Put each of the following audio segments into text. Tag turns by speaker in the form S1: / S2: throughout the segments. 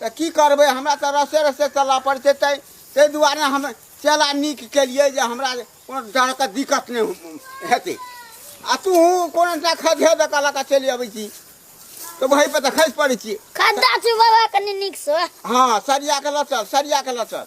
S1: तऽ की करबै हमरा तऽ रसे रसे चलऽ पड़ै छै तै ताहि दुआरे हम चेला नीक केलियै जे हमरा कोनो तरहके दिक्कत नहि हेतै आ तू कोनो टा खधे दऽ कऽ लऽ कऽ चलि अबै छी तऽ वहीपर तऽ खसि पड़ै छी खड्डा छै बाबा
S2: कनि नीकसँ हँ सरिया कऽ
S1: लऽ चल सरिया कऽ लऽ चल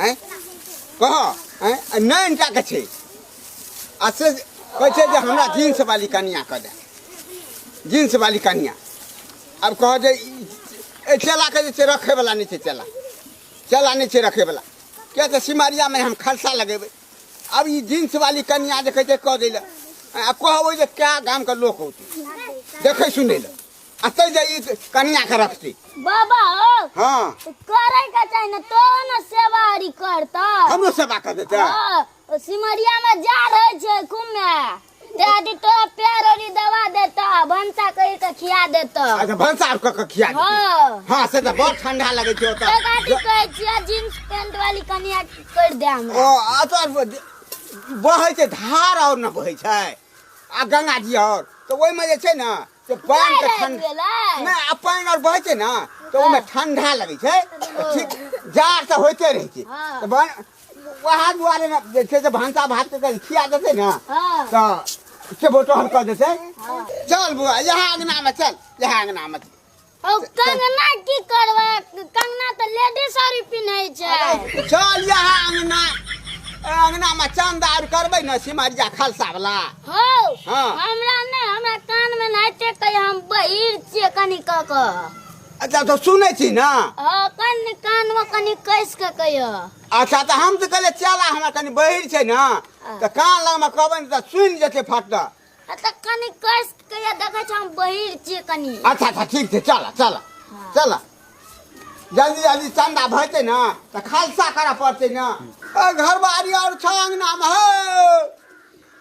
S1: आँय कह आँय आ नहि अनटा के छै आ से कहै छै जे हमरा जींस वाली कनिया कऽ दे जींस वाली कनिया आब कह जे ई- एहि चेलाके जे छै रखैवला नहि छै चेला चेला नहि छै रखैवला किया तऽ सिमरियामे हम खर्चा लगेबै आब ई जींस वाली कनिया जे कहै छै कऽ दै लए आ कहबै जे कए गामके लोक औतै देखै सुनै लए अतै जे ई कनिया के रखती बाबा हो
S2: हाँ तो
S1: करे के
S2: चाही ना तो ना सेवा हरी करता हमरो सेवा कर देते
S1: हाँ, ओ सिमरिया
S2: में जा रहे छे घूमे ते आदि तो पैर ओरी दवा देता भंसा कही के खिया देता अच्छा भंसा आर कऽ के
S1: खिया देती हाँ हाँ से तऽ
S2: बहुत ठंडा
S1: लगै छै तो गाड़ी ओतऽ कहे छिया
S2: जींस पैंट वाली कनिया कर दे ओ हमरा अतऽ
S1: बहै छै धार आओर ने बहै छै आ गंगा जी आओर तऽ ओहिमे जे छै ने से पानि के लाइन ठंड गेलै। ना आ पानि आर बहै छै ने तऽ ओहिमे ठंडा लगै छै तऽ ठीक जाड़ तऽ होइते रहै छै हाँ। तऽ बन वएह दुआरे ने जे छै से भनसा भात के कहीं खिया देतै ने हाँ। तऽ से बोटहल कऽ देतै चल बुआ इएह अंगना मे चल इएह अंगना मे चल ओ कंगना
S2: की करबा कंगना तऽ लेडी साड़ी पिन्है छै चल यहाँ
S1: अंगना ए, अंगना में चंदा और करबे न सिमरिया खलसा वाला हो हाँ।
S2: हमरा
S1: नै हमरा
S2: कान में नै टेकै हम बहिर छियै कनि क क अच्छा तो
S1: सुनै छी ना हो कनि
S2: कान में कनि कैस के कहियो अच्छा तो हम
S1: तो कहले चला हमरा कनी बहिर छै ना तो कान लग में कहबे न तो सुन जेते फट आ तऽ कनि
S2: कस के या देखै छ हम बहिर छियै कनि अच्छा अच्छा ठीक छै चल
S1: चल चल जल्दी जल्दी चन्दा भैते ने तऽ खालसा करऽ पड़तै ने ओ घर बारी आओर छ अङ्गनामे हौ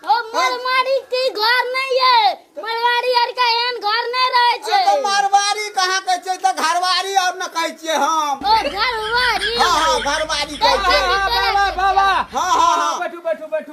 S2: ओ मरमारी के घर नहीं है मरवारी आर का एहन घर नहीं रहे ए, छै तऽ मारवाड़ी
S1: कहाँ कहै छै तऽ घरवाड़ी आओर ने कहै छियै हम ओ घरवारी
S2: हँ हँ घरवाड़ी
S1: कहै छै बाबा बाबा हँ
S3: हँ हँ बैठू
S1: बैठू बैठू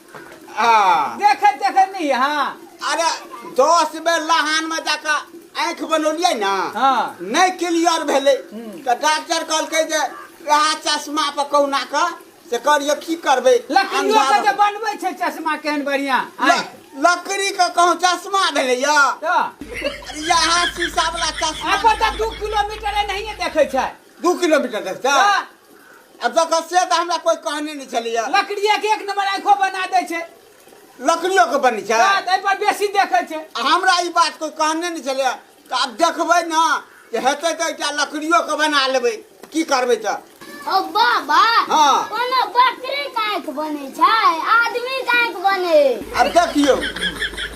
S1: हाँ देखै देखै नहि
S3: अहाँ अरे
S1: दस बेर लहानमे जाकऽ आँखि बनौलियै ने हाँ। नहि
S3: क्लियर
S1: भेलै तऽ डॉक्टर कहलकै जे वएह चश्मा पर कहुना कऽ से करियो की करबै लकड़ियो के जे अन्धार-
S3: बनबै छै चश्मा केहन बढ़िया ल- लकड़ी
S1: के कहूँ चश्मा भेलै यऽ तो
S3: इएह
S1: शीशा वाला चश्मा आब तऽ दू किलोमीटर
S3: एनाहिए देखै छै दू किलोमीटर
S1: देखतै हाँ। आ जखन से तऽ हमरा कोइ कहने नहि छलैया लकड़िए के एक नंबर
S3: आँखो बना दै छै लकड़ियो
S1: के बनी
S3: छै
S1: रात एहि पर बेसी
S3: देखै
S1: छै आ हमरा ई बात कोइ कहने नहि
S3: छलैया
S1: तऽ आब देखबै ने जे हेतै तऽ एकटा लकड़ियो के बना लेबै की करबै तऽ ओ बाबा
S2: हाँ। कोनो
S1: बकरी
S2: के आँख बने छै आदमी के आँख बने आब देखियौ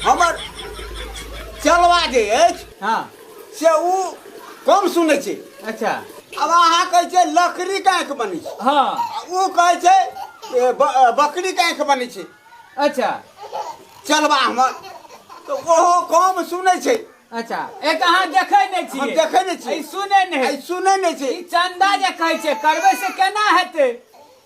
S1: हमर चलवा जे अछि हाँ से
S3: ओ
S1: कम सुनै छै अच्छा अब
S3: अहाँ कहै
S1: छै लकड़ी के आँखि बनै छै हाँ आ ओ कहै
S3: छै
S1: ए, ब- अ, बकरी के आँखि बनै छै अच्छा
S3: चलबा
S1: हमर तऽ ओहो कम सुनै छै अच्छा एक
S3: अहाँ देखै नहि छी हम देखै नहि छी। ई सुनै
S1: आ नहि ई
S3: सुनै नहि छै ई
S1: चंदा जे कहै
S3: छै करबै से केना हेतै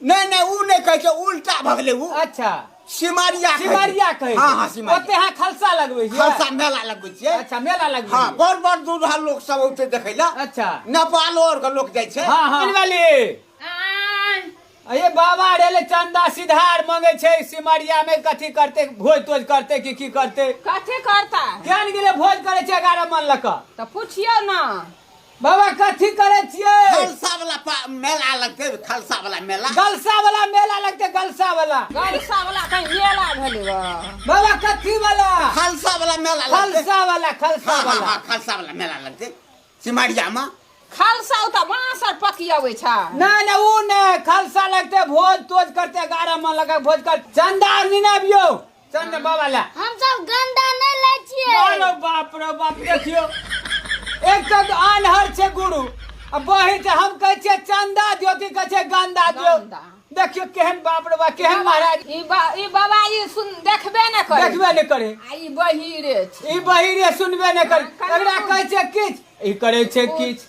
S3: नहि नहि ओ
S1: नहि कहै छै उल्टा भऽ गेलै ओ अच्छा सिमरिया
S3: कहै छै।
S1: सिमरिया कहै
S3: हँ हँ छै। ओते सिमरिया अहाँ
S1: खलसा लगबै
S3: छियै खालसा मेला लगबै छियै
S1: अच्छा मेला लगबै हँ
S3: छियै। बड़ बड़ दूर हर लोक
S1: सब औते देखै लए अच्छा नेपालो
S3: आर के लोक
S1: जाइ छै हाँ हाँ वाली
S3: अये बाबा रेले चंदा सिधार मांगे छै सिमरिया में कथी करते भोज तोज करते कि की करते कथी करता
S4: केन गेले भोज
S3: करे छै 11 मन लक तऽ पुछियौ ने
S4: बाबा
S3: कथी करै छियै खालसा वाला पा-
S1: मेला लगते खालसा वाला मेला गलसा वाला मेला
S3: लगते गलसा वाला गलसा वाला कहीं
S4: मेला भेलै बा बाबा कथी
S3: वाला खालसा वाला मेला
S1: लगते खलसा वाला खलसा हाँ, हाँ,
S3: वाला हाँ, खालसा वाला
S1: मेला
S3: लगते
S1: सिमरिया में खालसा ओ तऽ
S4: बाँस आर पकियबै छै नहीं नहीं वो नहीं
S3: खलसा लगते भोज तोज करते गारा मन लगा भोज कर चंदा निनाबियो चल ने बाबा ला हम सब गंदा
S2: नहीं ले छिए मानो बाप रे
S3: बाप देखियो एक तो अनहर छे गुरु आ बही जे हम कहै छियै चंदा दियो कि कहै छै गंदा दियो गंदा। देखियो
S4: केहन
S3: बाप रे बाप केहन महाराज ई बा ई बाबा
S4: ई सुन देखबे न करे देखबे ने करे आ ई
S3: बहिरे
S4: छै ई बहिरे
S3: सुनबे
S4: ने
S3: करे एकरा कहै छै किछ ई करै छै किछ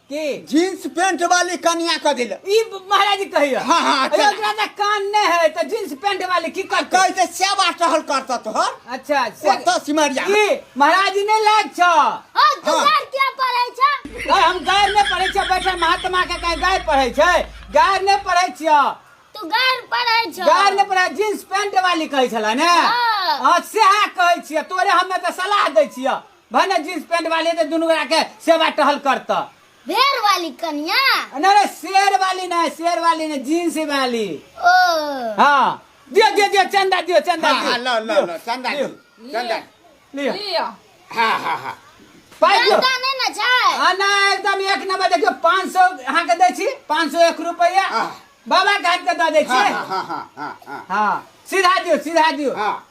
S1: की जींस
S3: पेंट
S1: वाली कनिया कह दिल ई महाराज जी
S3: कहियो हाँ, हाँ, अरे चल। ओकरा
S1: तऽ कान नहि
S3: है तऽ जींस पेंट वाली की करतै कैसे सेवा टहल
S1: करता तोहर अच्छा से ओतऽ
S3: सिमरिया
S1: की महाराज जी
S3: नहि लाग छौ ओ तू हाँ। गार
S2: किया पड़ै छ अरे हम गायर नहि
S3: पढ़ै छियै बैठल महात्मा के कहीं गायर पढ़ै छै गायर नहि पढ़ै छियै तू गार
S2: पड़ै छ गायर नहि पढ़ै जींस
S3: पेंट वाली कहै छलै ने हाँ। हाँ सएह
S2: कहै
S3: छियै तोरे हमे तऽ सलाह दै छियै भने जींस पैंट वाले तो दुनू गोरा के सेवा टहल करता भेड़ वाली
S2: कनिया ना रे शेर
S3: वाली ना शेर वाली ना जींस वाली ओ
S2: हाँ
S3: दियो दियो दियो चंदा दियो चंदा हाँ, हाँ, लो, लो, लो,
S1: चंदा दियो,
S3: दियो, चंदा।
S1: लियो लिया
S4: हाँ
S1: हाँ हाँ पाइ दियो चंदा
S3: नहीं ना छै
S2: आ ना एकदम एक
S3: नंबर देखियो पाँच सौ अहाँ के दै छी पाँच सौ एक रुपैया आह। बाबा
S1: के हाथ के दऽ दै
S3: हाँ छी हाँ हाँ हाँ हाँ
S1: हाँ सीधा
S3: दियो सीधा दियो हाँ